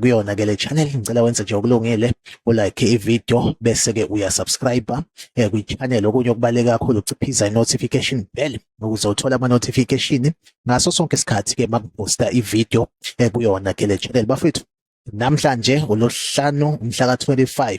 kuyona ke le channel ngicela wenze nje okulungile ulike ivideo bese ke uyasubscribe eh, kwi channel okunye okubaleka kakhulu uciphiza i notification bell ukuze uthole ama notification ngaso sonke isikhathi ke makuposta ivideo eh, kuyona ke le channel bafethu namhlanje ulohlanu umhla ka 25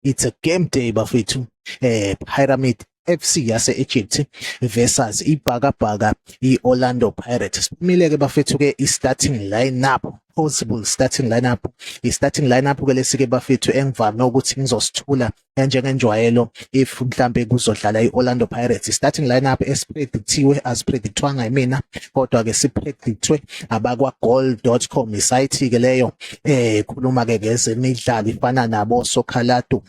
it's a game day bafethu eh pyramid FC yase Egypt versus ibhakabhaka iOrlando Pirates siphumile ke bafethu ke istarting lineup possible starting lineup i-starting lineup ke lesike bafethu engivame ukuthi ngizosithula njengenjwayelo if mhlambe kuzodlala i-Orlando Pirates i-starting lineup esipredictiwe asipredictwanga yimina kodwa ke sipredictwe abakwa goal.com isayithi ke leyo eh khuluma ke ngezemidlalo ifana nabo Sokhalatu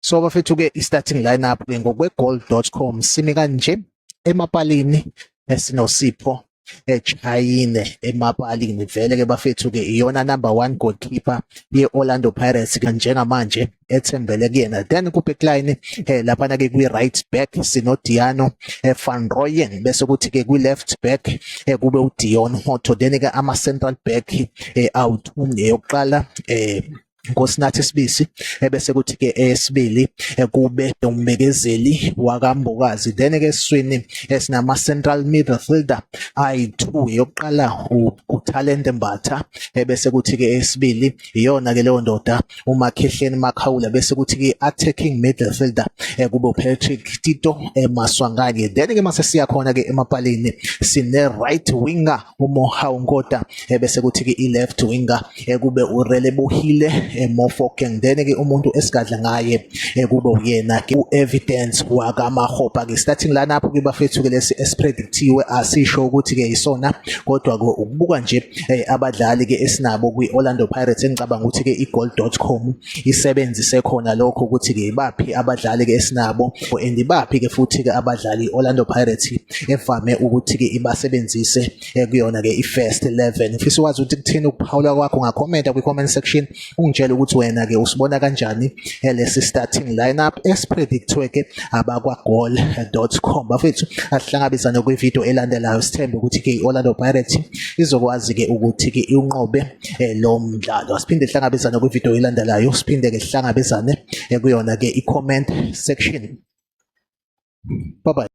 so bafethu ke i-starting lineup ke ngokwegoal.com simi kanje emapalini esinosipho echayine emapalini vele ke bafethu ke iyona number 1 goalkeeper ye-Orlando Pirates njengamanje ethembele kuyena then kubekline eh laphana ke kwi right back sino Diano eh, van Rooyen bese kuthi ke kwi left back eh kube u Dion Hotto then ke ama central back eh out umneyokuqala eh ngosinathi sibisi ebese kuthi ke esibili eh, kube umbekezeli wakambokazi then ke eswini esinama eh, central midfielder ayi2 yokuqala uTalente Mbatha ebese eh, kuthi ke esibili iyona ke leyo ndoda umakhehleni makhawula bese kuthi ke attacking midfielder eh, kubo Patrick Tito eh, Maswanganyi then ke mase siya khona ke emapalini sine right winger uMohau Nkota eh, bese kuthi ke i left winger kube urele buhile Mofokeng then ke umuntu esigadla ngaye kube uyena ke evidence wakamahopa ke starting lana lapho ke bafethu ke lesi esipredictiwe asisho ukuthi ke isona kodwa ukubuka nje eh, abadlali ke esinabo kwi-Orlando Pirates engicabanga ukuthi ke igoal.com isebenzise khona lokho ukuthi ke baphi abadlali ke esinabo and baphi ke futhi ke abadlali i-Orlando Pirates evame ukuthi ke ibasebenzise eh, kuyona ke i-first 11 ngifisa ukwazi ukuthi kuthini ukuphawula kwakho ngakhomenta kwi-comment section ungitshela ukuthi wena ke usibona kanjani eh, lesi starting lineup esipredictwe ke abakwagoal.com bafethu asihlangabezane kwivideo elandelayo sithembe ukuthi ke iOrlando Pirates izokwazi ke ukuthi ke iwunqobe eh, lo mdlalo asiphinde sihlangabezane kwivideo elandelayo siphinde ke sihlangabezane eh, kuyona ke i-comment section bye bye